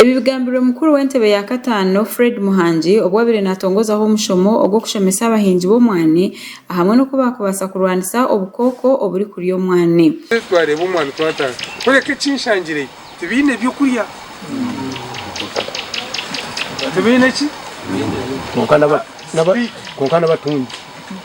Ebi bigambirwe mukuru w'entebe ya kataano Fred Muhangi obu wabaire natongozaho omushomo ogw'okushomesa abahingi b'omwani ahamwe n'oku bakubaasa kurwanisa obukooko oburikurya omwani. Twareeba omwani twatandika kureka ekinshangireyo tibaine by'okurya kwonka n'abatungi.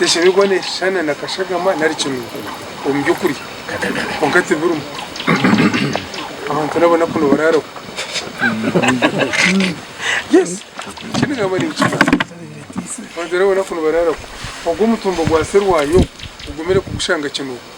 neshemererwa neshushana na kashagama nari kinunga omu by'okurya kwonka tibirimu abantu nabo enaku nibararaho yes eki ningamba ninkimanya abantu nabo enaku nibararaho ogwo omutumba gwa serwanja ogwo ogumire kugushanga kinunga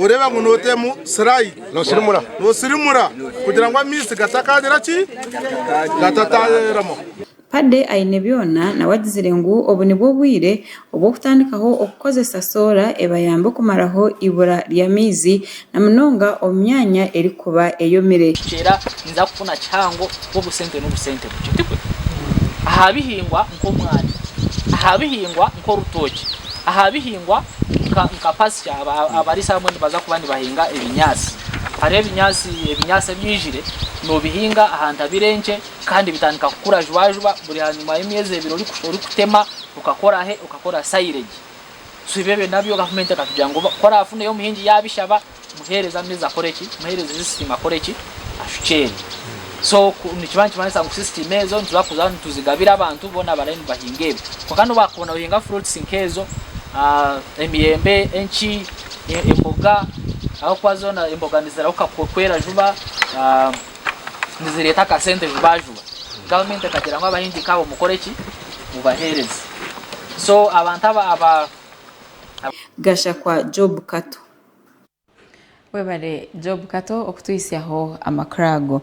Oreeba ngu nooteemu siraidi, noosirimura kugira ngu amaizi gatakaagira ki? Gatataayeeramu. Paddy aine byona nawe agizire ngu obu nibwo obwire obw'okutandikaho okukozesa soora ebayambe kumaraho eibura ry'amaizi na munonga omu myanya erikuba eyomire. Nkiceera ninza kufuna kihango kwobusente nobusente bukye, tikwe? Aha bihingwa nk'omwani, aha bihingwa nk'orutookye, aha bihingwa nka pasture abariisa abamwe nibaza kuba nibahinga ebinyaatsi, hariho ebinyaatsi ebinyaatsi ebi oijire noobihinga aha ntabire enkye kandi bitandika kukura juba juba buri hanyima y'emyezi ebiri orikutema okakora he okakora silage so ebyo ebyo nabyo gavumenti ekatugira ngu ku oraafuneyo omuhingi yaabishaba Muheereze amaizi akore ki? Muheereze sisitiimu akore ki? Ashukyeerye. So nikiba nikimanisa ngu sisitiimu ezo nituza kuza nituzigabira abantu boona abarabe nibahinga ebyo. Kwonka n'obu waakubona nohinga fruits nk'ezo, emiyembe, enki, emboga, ahabw'okuba zoona emboga nizirahuka kwera juba, nizireeta akasente juba juba. Gavumenti ekagira ngu abahingi nk'abo mukore ki? Mubaheereze. So abantu aba. Gashakwa Job Kato. Webare Job Kato okutuhitsyaho amakuru ago.